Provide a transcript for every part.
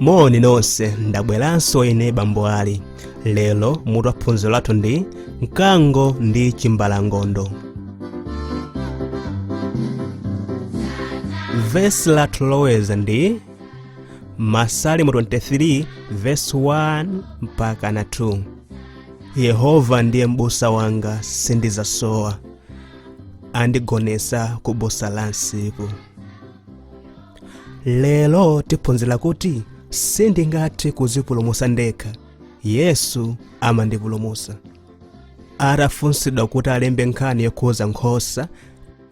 moni nonse ndabweranso ine bambo ali lero mutu wa phunziro lathu ndi mkango ndi chimbalangondo vesi lathu loloweza ndi masalimo 23 vesi 1 mpaka na 2 yehova ndiye m'busa wanga sindizasowa andigonesa ku busa la msipu lero tiphunzira kuti sindingathe kuzipulumusa ndekha yesu amandipulumusa atafunsidwa kuti alembe nkhani yokhuza nkhosa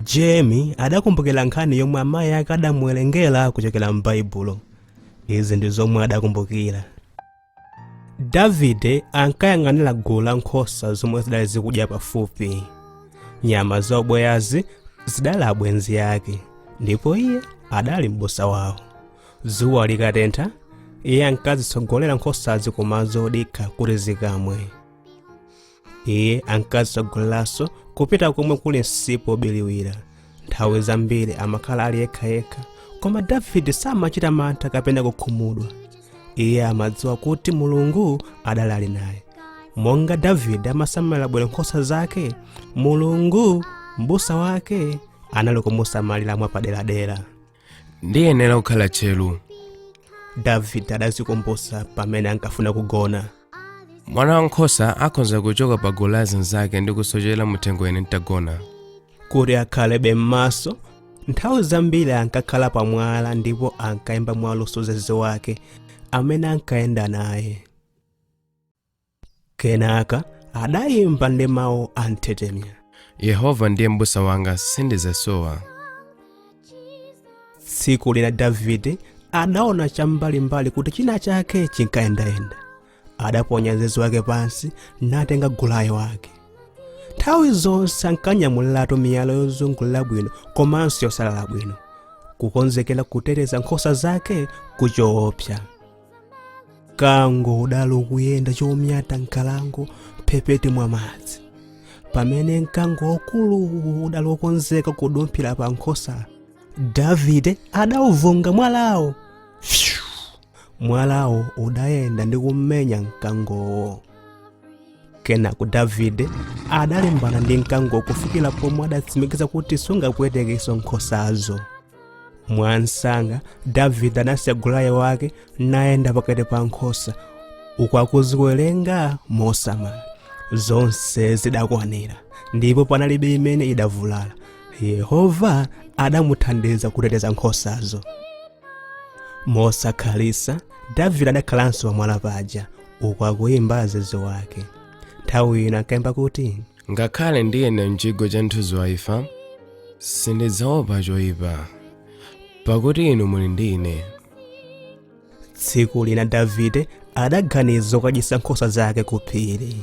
jemi adakumbukira nkhani yomwe amayi ake adamuwerengera kuchokera m'baibulo izi ndi zomwe adakumbukira davide ankayang'anira gulu la nkhosa zomwe zidali zikudya pafupi nyama za ubweyazi zidali abwenzi ake ndipo iye adali m'busa wawo dzuwa likatentha iye ankazitsogolera nkhosazi kumadzi odikha kuti zikamwe iye ankazitsogoleranso kupita komwe kuli msipu wobiriwira nthawi zambiri amakhala ali yekhayekha koma davide samachita mantha kapena kukhumudwa iye amadziwa kuti mulungu adali ali naye monga davide amasamalira bwino nkhosa zake mulungu m'busa wake anali kumusamalira mwapaderadera ndiyenera kukhala tcheru davide adazikumbusa pamene ankafuna kugona mwana wankhosa akhoza kuchoka pa gulu la zinzake ndi kusochera muthengo ine ntagona kuti akhalebe m'maso nthawi zambiri ankakhala pamwala ndipo ankayimba mwaluso zeze wake amene ankayenda naye kenaka adayimba ndi mawu anthetemya yehova ndiye m'busa wanga sindizasowa tsiku lina davide adaona cham'mbalimbali kuti china chake chinkayendayenda adaponya zeze wake pansi natenga gulayo wake nthawi zonse ankanyamuliratu miyala yozungulira bwino komanso yosalala bwino kukonzekera kuteteza nkhosa zake ku choopsa mkango udali ukuyenda chonyata m'nkhalango m'mphepete mwa madzi pamene mkango waukulu udali wokonzeka kudumphira pa nkhosa davide adauvunga mwalawo Phew! mwalawo udayenda ndi kummenya mkangowo kenako davide adalimbana ndi mkango kufikira pomwe adatsimikiza kuti sungapwetekenso nkhosazo mwamsanga davide adasiya gulaye wake nayenda pakati pa nkhosa uku akuziwerenga mosamala zonse zidakwanira ndipo panalibe imene idavulala yehova adamuthandiza kuteteza nkhosazo mosakhalitsa davide adakhalanso pamwala paja uku akuyimba zeze wake nthawi ina ankayimba kuti Ngakhale ndiyenda m'chigwa cha mthunzi wa imfa, sindidzaopa choyipa, pakuti inu muli ndi ine. tsiku lina davide adaganiza zokadyetsa nkhosa zake ku phiri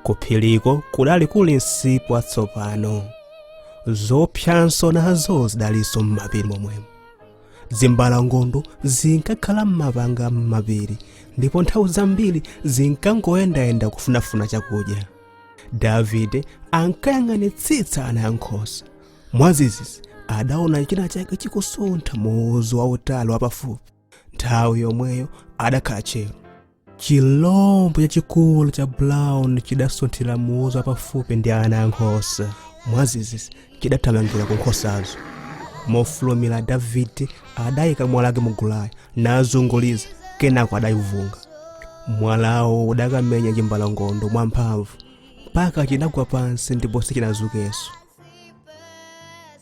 ku phiriko kudali kuli msipu watsopano zoopsanso nazo zidalinso m'mapiri momwemo zimbalangondo zinkakhala m'mapanga m'mapiri ndipo nthawi zambiri zinkangoyendayenda kufunafuna chakudya davide ankayang'anitsitsa ana ankhosa mwadzidzidzi adaona china chake chikusuntha muuzu wautali wapafupi nthawi yomweyo adakhala tcheru chilombo chachikulu cha brown chidasunthira muuzu wapafupi ndi ana ankhosa mwadzidzidzi chidathamangira ku nkhosazo mofulumira davide adayika mwala wake mu gulaye nazunguliza kenako adayivunga mwalawo udakamenya chimbalangondo mwamphamvu mpaka chidagwa pansi ndipo sichinadzukenso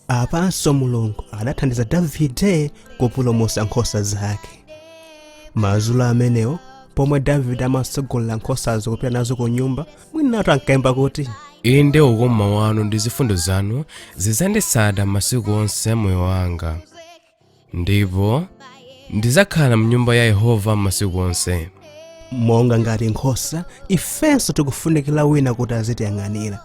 apanso mulungu adathandiza davide kupulumutsa nkhosa zake madzulo amenewo pomwe davide amatsogolera nkhosazo kupita nazo ku nyumba mwinatu ankayimba kuti inde ukoma wanu ndi zifundo zanu zidzanditsata masiku onse a moyo wanga ndipo ndidzakhala m'nyumba ya yehova masiku onse monga ngati nkhosa ifenso tikufunikira wina kuti azitiyang'anira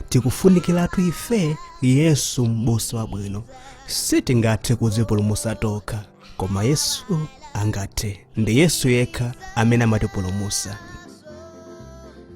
tikufunikiratu ife yesu m'busa wabwino sitingathe kudzipulumutsa tokha koma yesu angathe ndi yesu yekha amene amatipulumutsa